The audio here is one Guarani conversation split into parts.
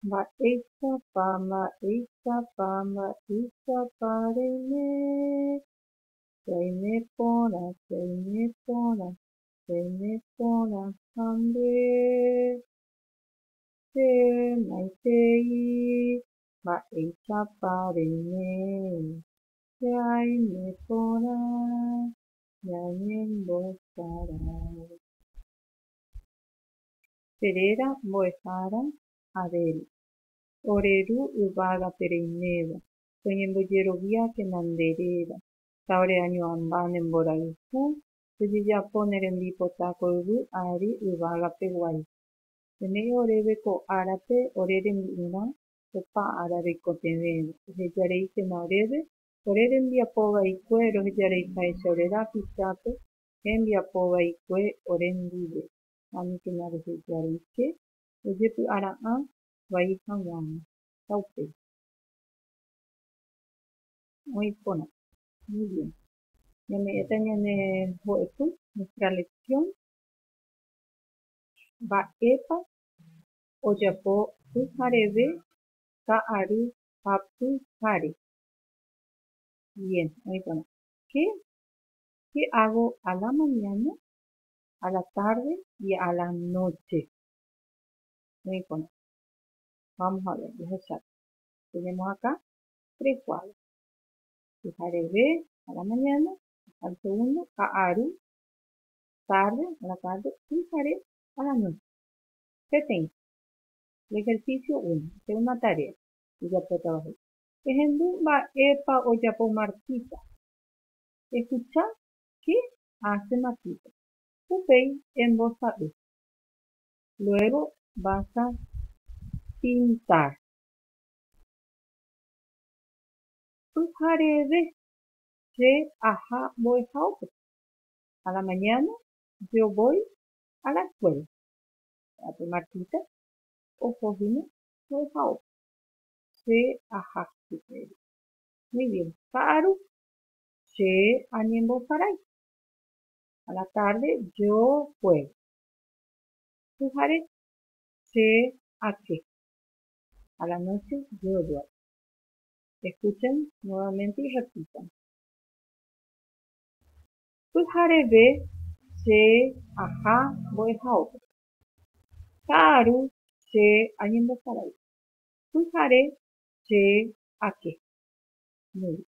Mba'éichapa, mba'éichapa, mba'éichapa reime, reime porã, reime porã, reime porã ha nde, che maitei, mba'éichapa reime, che aime porã ñañembosarái. che réra mbo'ehára Abel, ore ru yvágape reiméva, toñembojeroviákena nde réra, ta ore añoamba ne mborayhu, tojejapo ne rembipota ko yvy ári yvágape guai. Peme'ẽ oréve ko árape ore rembi'urã opa ára reikotevẽve, ohejareíkena oréve, ore rembiapo vaikue rohejareiháicha ore rápichápe hembiapo vaikue ore ndive. ha mituma rehe ijaruiche ojepy'ara'ã vai haguãva, ha upéi. Oĩ porã. Muy bien. Ñame'ẽta ñane mbo'epy, nuestra lección. Mba'épa ojapo pyhareve ka'aru ha pyhare? Bien, oĩ porã. Qué, qué hago a la mañana? a la tárde y a la nóche. Muy importante. Vamos a ver, jahecháta. Tenemos acá tres cuadros. Pyhareve a la mañana, al segundo, ha ary, tarde, a la tarde, pyhare, a la noche. Peteĩ. El ejercicio 1. Hacer una tarea. Ojapótava he'i. Ehendu mba'épa ojapo Martita. Escuchá qué ha che matýpe. Upéi embosa'y. Luego vas a pintar. Pyhareve che aha mbo'ehaópe. A la mañana yo voy a la escuela. Ha pe matýpe oho hína mbo'ehaópe. Che aha chupe. Muy bien. Ka'aru. Che añemboparái. A la tarde yo juego. Pyhare che ake. A la noche yo duermo. Escuchen nuevamente y repitan. Pyhareve che aha mbo'ehaópe. Ka'aru che añemboparái. Pyhare che ake. Muy bien.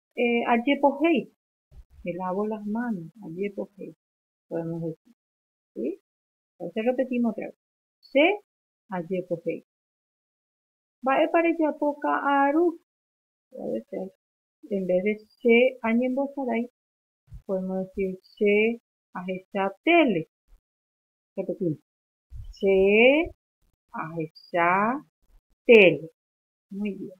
Ajepohéi. Me lavo las manos. Ajepohéi. Podemos decir. Sí? Entonces repetimos otra vez. Che ajepohéi. Mba'épa rejapo ka'aru? Puede ser. En vez de che añembosarai, podemos decir che ahecha tele. Repetimos. Che ahecha tele. Muy bien.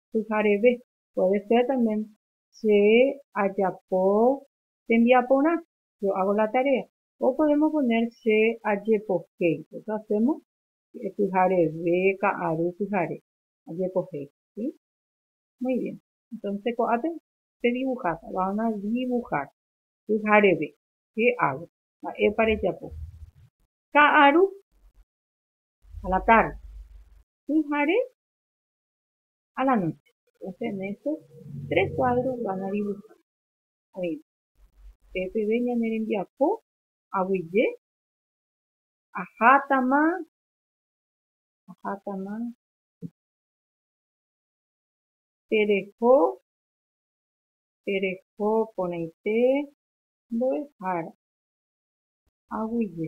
pyhareve. Puede ser también che ajapo tembiaporã, yo hago la tarea. O podemos poner che ajepohéi, eso hacemos pyhareve, ka'aru pyhare, ajepohéi. ¿Sí? Muy bien. Entonces ko'ápe pe dibuháta, van a dibujar, pyhareve, che hago, mba'épa rejapo. Ka'aru, a la tarde. Pyhare, a la nóche. Doce méses, tres kuádros van a dibuhá. Oĩva, pe peve ñane rembiapo aguyje ahátama, ahátama tereho, tereho porãite mbo'ehára aguyje.